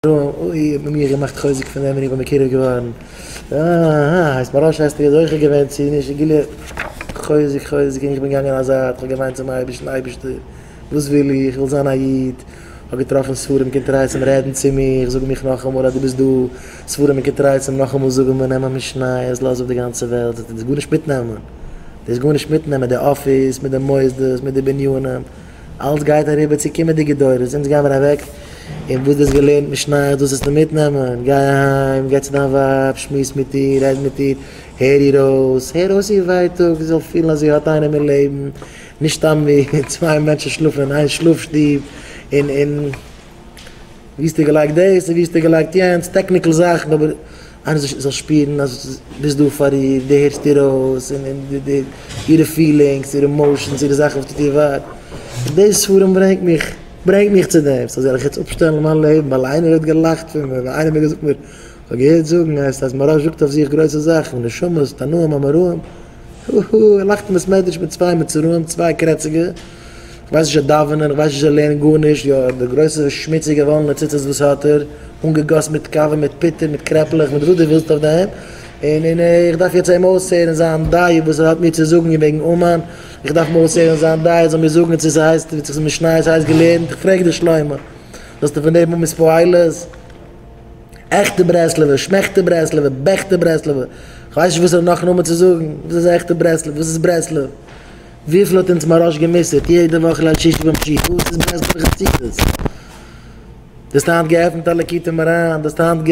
אוי האט מען מיר געמאכט חוזק פון דעם בין איך בין מקורב געווארן אהההה הייסט מיין ראש העסקל איז זוכה געווען צו נישט געלערנט חוזק חוזק און איך בין געגאנגען א זייט כ'האב געוויינט צום אייבערשטן אייבערשטער וואס וויל איך איך וויל זיין א איד כ'האב געטראפן ספרים און קונטרסים רעדן צו מיך זאג מיך נאכאמאל אז דו ביסט דא ספרים און קונטרסים נאכאמאל זאגן מיר נעם א משניות לאז אפ די גאנצע וועלט זאגט ער דאס גארנישט מיטנעמען דאס גארנישט מיטנעמען די אפיס מיט די מוסדות מיט די בנינים אלץ גייט אריבער צו קומענדיגע דורות, אונז גייען מיר אוועק און וואס דו האסט געלערנט משניות דאס זאלסטו מיטנעמען, גיי אהיים, גיי צו דיין ווייב, שמועס מיט איר, רעד מיט איר, הער איר אויס, הער אויס איר ווייטאג, זי זאל פילן אז זי האט איינעם אין לעבן, נישט סתם ווי צוויי מענטשן שלאפן אין איין שלאף שטוב, און און ווי האסטו געלייגט דאס און ווי האסטו געלייגט יענץ, טעקניקל זאכן אבער. איינער זאל זאל שפירן אז דו ביסט דא פאר איר, דו הערסט איר אויס, און און דו דו אירע פילינגס, אירע עמאושענס, אירע זאכן וואס טוט איר וויי. און די ספרים ברענגט מיך ברענגט מיך צו דעם. סא זאל איך יעצט אפשטעלן מיין לעבן ווייל איינער האט געלאכט פון מיר, ווייל איינער האט מיר געזאגט מיר כ'האב געהערט זאגן אז אז מרא זאגט אויף זיך גרויסע זאכן, נשמות, תנאים אמוראים, הו הו, ער לאכט אין בית מדרש מיט צוויי מצורעים, צוויי קרעציגע. כ'ווייס נישט זיי דאווענען, כ'ווייס נישט זיי לערנען גארנישט, יא די גרויסע שמוציגע וואלענע ציצית וואס האט ער, אנגעגאסן מיט קאווע, מיט פוטער, מיט קרעפלעך, מיט וואס דו ווילסט אויף דעם, און און איך דארף יעצט אים אויסהערן זיין דעה וואס ער האט מיר צו זאגן וועגן אומאן, איך דארף אים אויסהערן זיין דעה ער זאל מיר זאגן צו ס'הייסט ווי צו משניות הייסט געלערנט, איך פרעג דיר שלמה, זאלסטו פון דעם האבן איספאהילעס? עכטע ברסלב'ע, שמעכטע ברסלב'ע, בעכטע ברסלב'ע, כ'ווייס נישט וואס ער האט נאך נאמען צו זאגן, וואס איז עכטע ברסלב? וואס איז ברסלב? וויפיל האט אונז מוהראש גע'מוסר'ט יעדע וואך ליל שישי ביים שיעור, וואס איז בעסט דורך חסידות? דו האסט היינט געעפנט א ליקוטי מוהרן, דו האסט היינט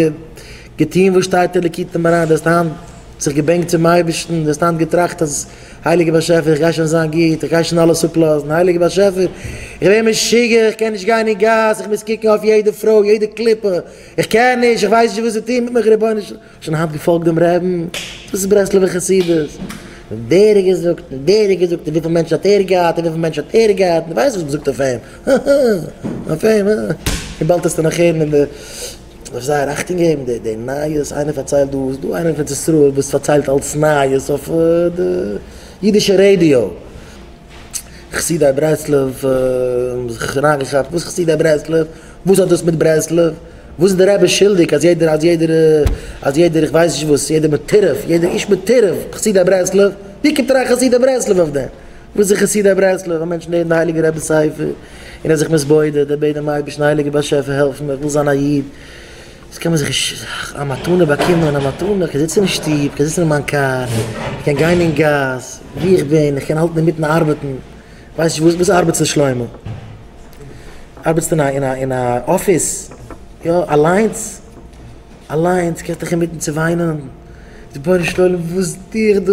געטון וואס שטייט אין ליקוטי מוהרן, דו האסט היינט זיך געבענקט צום אייבערשטן, דו האסט היינט געטראכט אז הייליגער באשעפער איך גיי שוין זיין גוט, איך גיי שוין אלעס אפלאזן, הייליגער באשעפער איך ווער משוגע, איך קען נישט גיין אין גאס, איך מוז קוקן אויף יעדע פרוי, יעדע קליפה, איך קען נישט, איך ווייס נישט וואס צו טון מיט מיך רבונו של שוין האלב געפאלגט דעם רעבן, דאס איז ברסלב'ע חסידות, און דער האט געזאגט, און דער האט געזאגט, און וויפיל מענטשן האט ער געהאט, און וויפיל מענטשן האט ער געהאט, און דו ווייסט וואס מ'זאגט אויף אים, הא הא, אויף אים, הא, און באלד העסטו נאך הערן אין די, מ'דארף זייער אכטונג געבן די די נייעס, איינער פארציילט דא, ס'איז דא איינער פון ציסראל וואס פארציילט אלס נייעס אויף די אידישע רעדיא, חסידי ברסלב האבן זיך אריינגעכאפט, וואס חסידי ברסלב? וואס האט דאס מיט ברסלב? וואס איז דער רבי שולדיג אז יעדער אז יעדער אז יעדער איך ווייס נישט וואס יעדער מטורף יעדער איש מטורף חסידי ברסלב? ווי קומט אריין חסידי ברסלב אויף דעם? וואס איז חסידי ברסלב? א מענטש לערנט די הייליגע רבי ספר און ער זיך מתבודד ער בעט דעם אייבערשטן הייליגער באשעפער העלף מיר איך וויל זיין א איד וואס קען מען זיך נישט א מתנה באקומען א מתנה איך קען זיצן אין שטוב איך קען זיצן אין מיין קאר איך קען גיין אין גאס ווי איך בין איך קען האלטן אינמיטן ארבעטן ווייס נישט וואס ארבעטסטו שלמה? ארבעטסטו אין א אין א אין א אפיס? יא אליינס? אליינס? קענסט דיך אינמיטן צו וויינען? רבונו של עולם וואס טו איך דא?